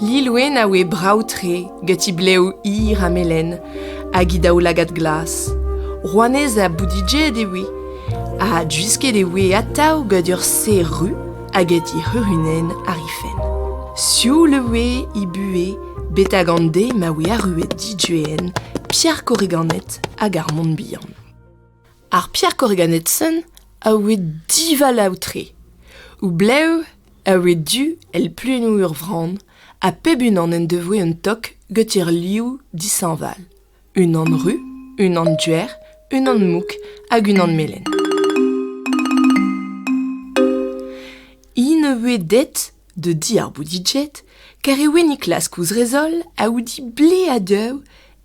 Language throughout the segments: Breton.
Lilwenn a oe brav-tre gant he blev hir ha melen hag he daoulagad glas. Rouanez ha boudidjet e oe, ha gwisket e oe atav gant ur serr ru hag he c'hurunenn àr he fenn. Sioul e oe he buhez betek an deiz ma oe arruet Diduen, Pierre Corriganet hag ar Mont-Bihan. Ar Pierre Corriganetson a oe divalav-tre. O blev a oe du èl pluennoù ur vran, ha pep unan en devoe un tok goutir liv dishañval. Unan ru, unan duer, unan mouk hag unan melen. Hi ne voe det da di ar Boudijet, kar e oe Niklaas kouzrezol a oudi ble ha deuv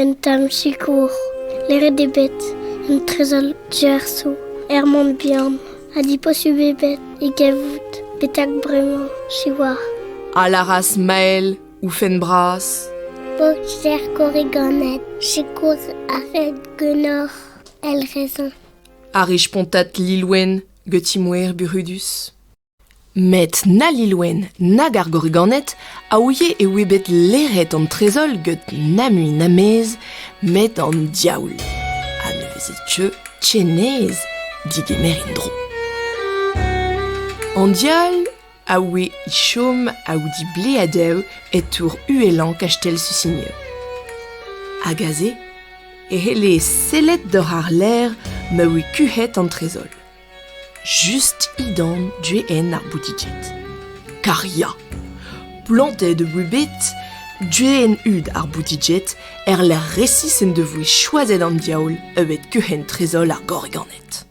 Un tamm sikour, leret eo bet un trezor diaeso er Mont-Bihan ha diposubl eo bet e gavout betek bremañ, siwazh. A lâras Mael, oufenn bras. Boxer korriganed, sikour a ret ganeoc'h, el raison. A ri spontat Lilwenn, gant ti moer burudus. Met na Lilwenn nag ar Gorriganed a ouie e oe bet leret an trezol gant na mui na mez met an diaoul. Ha ne veze teu tchenez digemer en-dro. An diaoul a oe e chom aoudi ble a dev e tour uhelañ kastell Susigne. Hag aze e c'helle sellet doc'h ar ler ma oe kuc'het an trezol. Just he dorn du-hen ar boutiquet. Kar ya! Plantet e bet du-hen-hud ar boutiquet er-lec'h resis en devoe choazet an diaoul evet keuc'hen trezol ar gorriganed.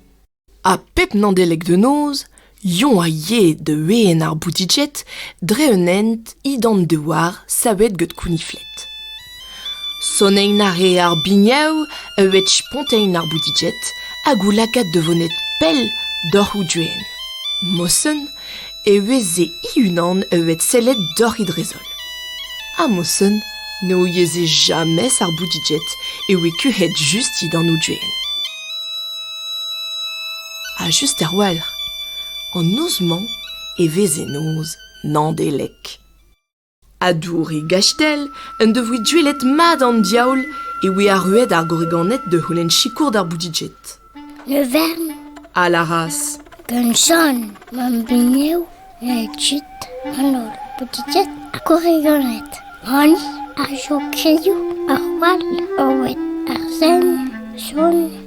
Ha pep Nandeleg de noz, Yon a yee da ween ar boutiquet dre un hent he d'an douar savet get kouniflet. Sonenn a rea ar biniou e wech spontailh ar boutiged hag o lakaat da vonet pell doc'h o doenn. Mosen e veze he-unan evet sellet doc'h he drezol. Ha Mosen ne ouieze jamez ar boutiged e oe kuc'het just dindan o doenn. Ha just er-walc'h, an noz-mañ e veze noz Nandelek. ha Douri Gastell en devoe duellet mat an diaoul e oe arruet ar gorriganed da c'houlenn sikour d'ar Boudiged. Le Vern a lâras Gant Jan, mam bugnev, e kuit an holl Boudiged ha gorriganed. Honi a jo krilhoù, ar wall, Oed ar Sen, Jon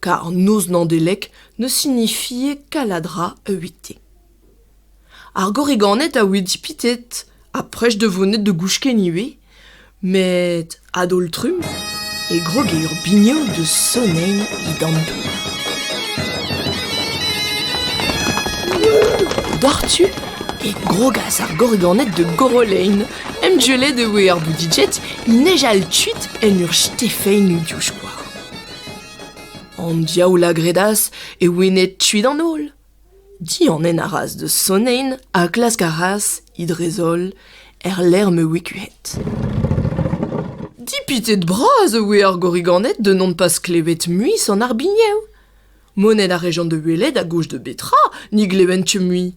Kar noz Naondeleg ne sinifie kaladra evite. Ar gorriganed a oe dipitet ha prest da vonet da gouchken ivez, met a-daol-trumm e groge ur bignot da sonein he damm. Doc'htu e grogas ar gorriganed da gorolein. Emgellet e oe ar boudijet, he nejal kuit en ur stifein diouzh koar. An diaoul a gredas e ouenne tuit an holl. Dianen a ras da sonein ha klask a ras, he drez-holl, er lec'h ma oe kuit. Dipitet bras e oe ar gorriganed da n'hon pas klevet mui sant ar biniou. Monet a rejont da welet a gouch da betra ni glevent mui.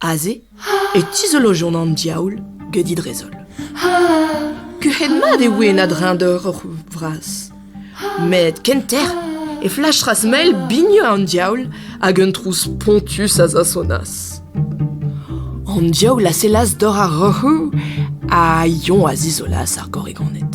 Aze e tizolojont an diaoul get he drezol. Kuc'het-mat e oe en a-dreñdeur hor c'houzoug vras. Met kenter e flachas mel bigneux an diaoul hag un trouz spontus a zasonas. An diaoul a sellas dor ar roc'hoù ha Yon a zizolas ar gorrigoned.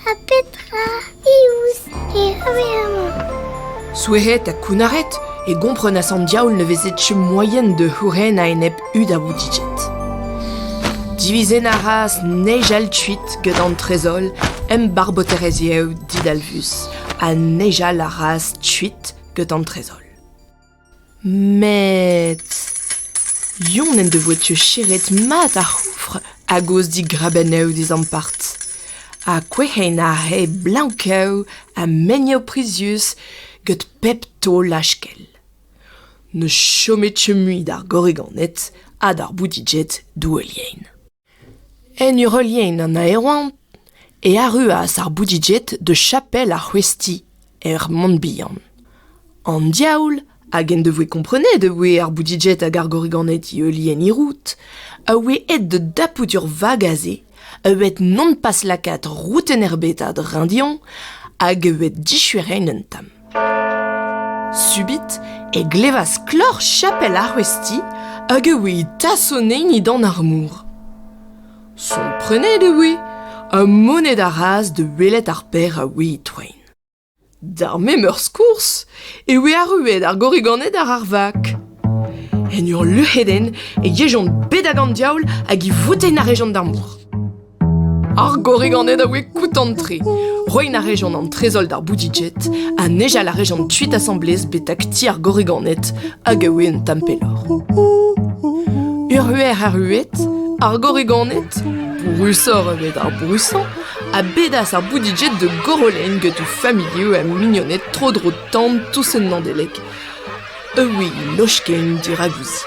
Ha petra iouz e c'haver amañ? Souezet ha kounnaret, e gomprenas an diaoul ne veze tchu moaien da c'houren a-enep hud a Vouticed. Divizen a ras nijal kuit gant an trezol embarboterez yev didalvus, ha nijal a ras kuit gant an trezol. Met... Yon en devoe teucheret mat ar c'houfr a-gozh digrabennoù d'ez ampart. Ha kouez'hen aze blank-kav ha meniv prizius gant pep taol lachkell. Ne chome teu mui d'ar gorriganed ha d'ar boudiged douelien. En ur heuliaén an aeroañv e arruas ar Boudijet da chapel ar c'hwezhti er Mont-Bihan. An diaoul hag en devoe komprenet e voe ar Boudijet hag ar Gorriganed e heuliaén Hirout a oe aet da dapout ur vag aze a oe bet non pas lakaet roudenn erbet a-dreñv dezhoñ hag a oe dichueret un tamm. Subit e glevas kloc'h chapel ar C'houesti hag e oe tasonein-edan ar mor. Komprenet e oe ha moned a ras da welet ar berr a oe e-toain. D'ar memeurs kours e oe arruet ar gorriganed àr ar vak. En ur luc'hedenn e yejont bet ag an diaoul hag e voutaint a rejont d'ar mor. Ar gorrig an eo da oe koutant-tre. Roin a rejont an trezoll d'ar Boudijet ha nejal a rejont tuit asamblez betak ti ar gorriganed hag a oe un tamm pelloc'h. Urhuer arruet, ar gorriganed, brousoc'h evit ar brousañ, a bedas ar Boudijet de Gorolen get o familhoù ha mignoned tro-dro tan tous en Nandeleg. E oui, lochken diravuzi.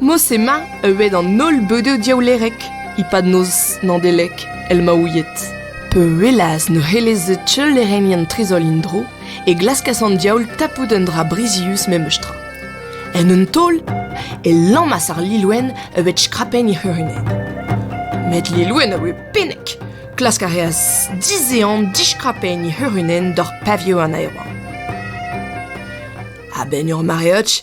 Mos emañ euet an holl beudoù diaoulerek e-pad noz Nadelek el maouied. Peulaz ne c'helleze teulerennien trezol en-dro e glaskas an diaoul tapout un dra brizius memes tra. En un taol e lammas ar Lilwenn evet skrapenn he c'hurunenn. Met Lilwenn a oe pennek. Klask a reas dizehan diskrapenn he c'hurunenn doc'h pavioù an aeroa. A-benn ur mareoch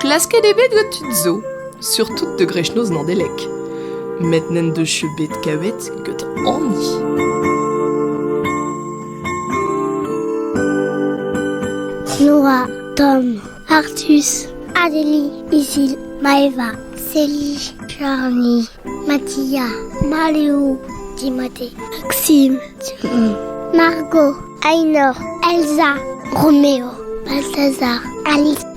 Klasket eo bet gant tud zo, surtout de grechnoz Nandelek, met n'en deus bet kavet get hani. Nora, Tom, Artus, Adélie, Isil, Maeva, Célie, Charlie, Mathia, Maléo, Timothée, Maxime, Margot, Ainor, Elsa, Roméo, Balthazar, Alice.